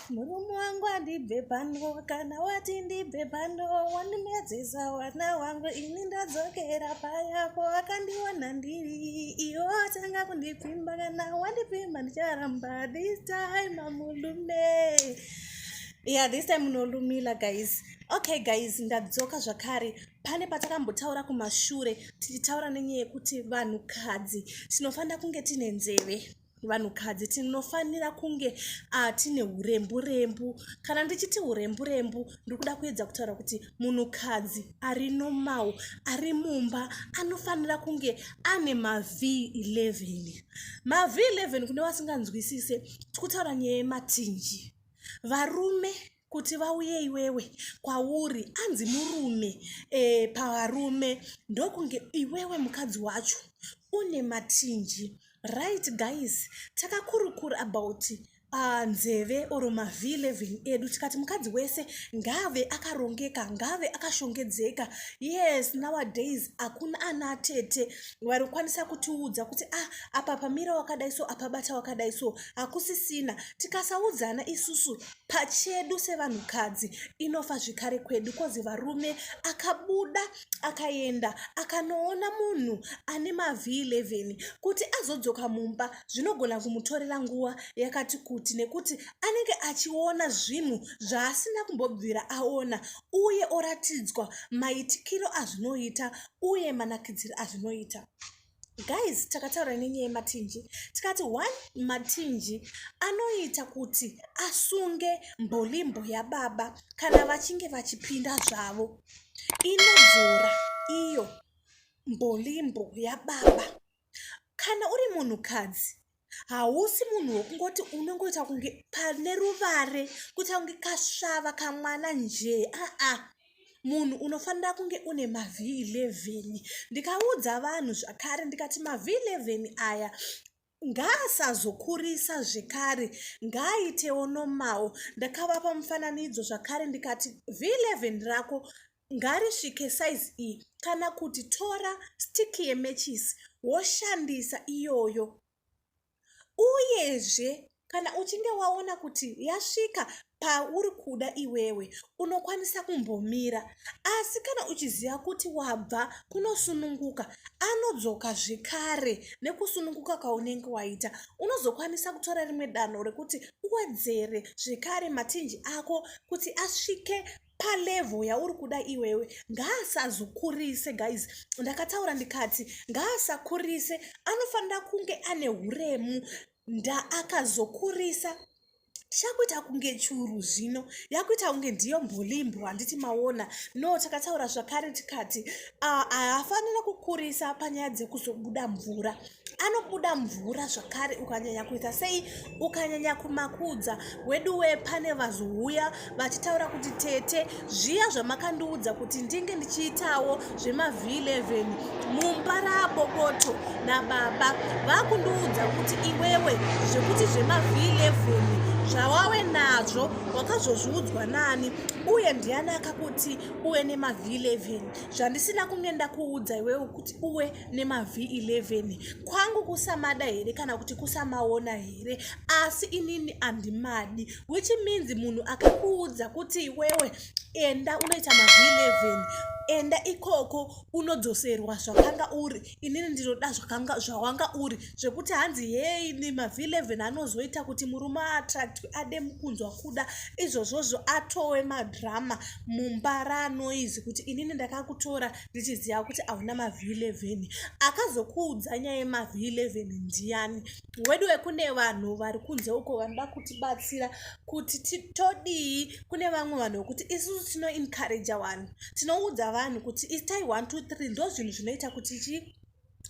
murume wangu andibve pano kana wati ndibve pano wandimedzesa wana wangu ini ndadzokera payapo akandiwana ndiri iyo atanga kundipfimba kana wandipfimba ndicharamba this time amulume yeah this time munolumila guys okay guys ndadzoka zvakare pane patakambotaura kumashure tichitaura nenyaya yekuti vanhukadzi tinofanira kunge tine nzeve vanhukadzi tinofanira kunge ah, tine hurembu rembu kana ndichiti hurembu rembu ndikuda kuedza kutaura kuti munhukadzi ari nomau ari mumba anofanira kunge ane mav11 mav11 kune vasinganzwisise tikutaura nyaya yematinji varume kuti vauye iwewe kwauri anzi murume e, pavarume ndokunge iwewe mukadzi wacho une matinji right guys takakurukura about uh, nzeve or mavi 11 edu tikati mukadzi wese ngave akarongeka ngave akashongedzeka yes nowadays hakuna ana atete vari kukwanisa kutiudza kuti ah apa pamira wakadai so apabata wakadai so hakusisina tikasaudzana isusu pachedu sevanhukadzi inofa zvekare kwedu kozi varume akabuda akaenda akanoona munhu ane mavhi11 kuti azodzoka mumba zvinogona kumutorera nguva yakati kuti nekuti anenge achiona zvinhu zvaasina kumbobvira aona uye oratidzwa maitikiro azvinoita uye manakidziro azvinoita guys takataura nenyaya yematinji tikati one matinji anoita kuti asunge mbolimbo yababa kana vachinge vachipinda zvavo inodzora iyo mbolimbo yababa kana uri munhukadzi hausi munhu wekungoti unongoita kunge pane ruvare kuita kunge kasvava kamwana njee aa munhu unofanira kunge une mavhi 11 ndikaudza vanhu zvakare ndikati mavhi 11 aya ngaasazokurisa zvekare ngaaitewo nomawo ndakavapa mufananidzo zvakare ndikati vhi 11 rako ngarisvike size iyi kana kuti tora stick yemechisi woshandisa iyoyo uyezve kana uchinge waona kuti yasvika pauri kuda iwewe unokwanisa kumbomira asi kana uchiziva kuti wabva kunosununguka anodzoka zvekare nekusununguka kwaunenge waita unozokwanisa kutora rimwe danho rekuti uwedzere zvekare matinji ako kuti asvike palevel yauri kuda iwewe ngaasazokurise guys ndakataura ndikati ngaasakurise anofanira kunge ane uremu ndaakazokurisa chakuita kunge churu zvino yakuita kunge ndiyo mbolimbo handiti maona no takataura zvakare tikati ah, haafanira kukurisa panyaya dzekuzobuda mvura anobuda mvura zvakare ukanyanya kuita sei ukanyanya kumakudza weduwe pane vazouya vachitaura kuti tete zviya zvamakandiudza kuti ndinge ndichiitawo zvemavhi11 mumba raboboto nababa vakundiudza kuti iwewe zvekuti zvemavhi11 zvawave nazvo wakazozviudzwa nani uye ndiani akakuti uve nemavhi 11 zvandisina kunge ndakuudza iwewe kuti uwe nemav11 kwangu kusamada here kana kuti kusamaona here asi inini andimadi which means munhu akakuudza kuti iwewe enda unoita mav11 enda ikoko unodzoserwa zvakanga uri inini ndinoda zvakanga zvawanga uri zvekuti hanzi hei nemav11 anozoita kuti murume aattractwe ade mukunzwa kuda izvozvozvo atowe madrama mumba raanoizi kuti inini ndakakutora ndichiziva kuti hauna mavhi 11 akazokuudza nyaya yemavhi 11 ndiyani wedu wekune vanhu vari kunze uko vanoda kutibatsira kuti todii kune vamwe vanhu vekuti isusu tinoencouraja vanhu tinoudza vanhu kuti itai 123 ndozvinhu zvinoita kuti chii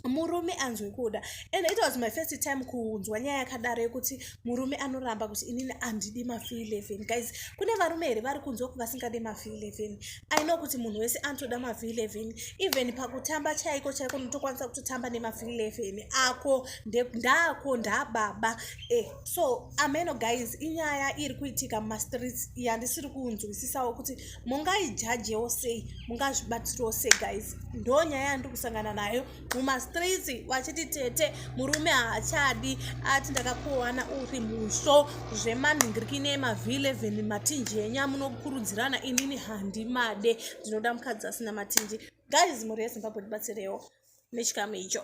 murume anzwe kuda and it was my first time kunzwa nyaya yakadaro yekuti murume anoramba kuti inini andidi mafee leven guys kune varume here vari kunzwa kuti vasingade mafee leven aino kuti munhu wese anotoda mafee leven even pakutamba chaiko chaiko notokwanisa kutotamba nemafee leven ako ndako ndababa eh, so ameno guys inyaya iri kuitika mumastreets yandisiri kunzwisisawo kuti mungaijajewo sei mungazvibatsirawo sei guys ndo nyaya yandiri kusangana nayo mumastreets vachiti tete murume haachadi ati ndakakuwana uri musvo zvemanhingiriki nemavhileven matinji enyu amunokurudzirana inini handimade ndinoda mukadzi asina matinji guys mhuri yezimbabwe ndibatsirewo nechikamu icho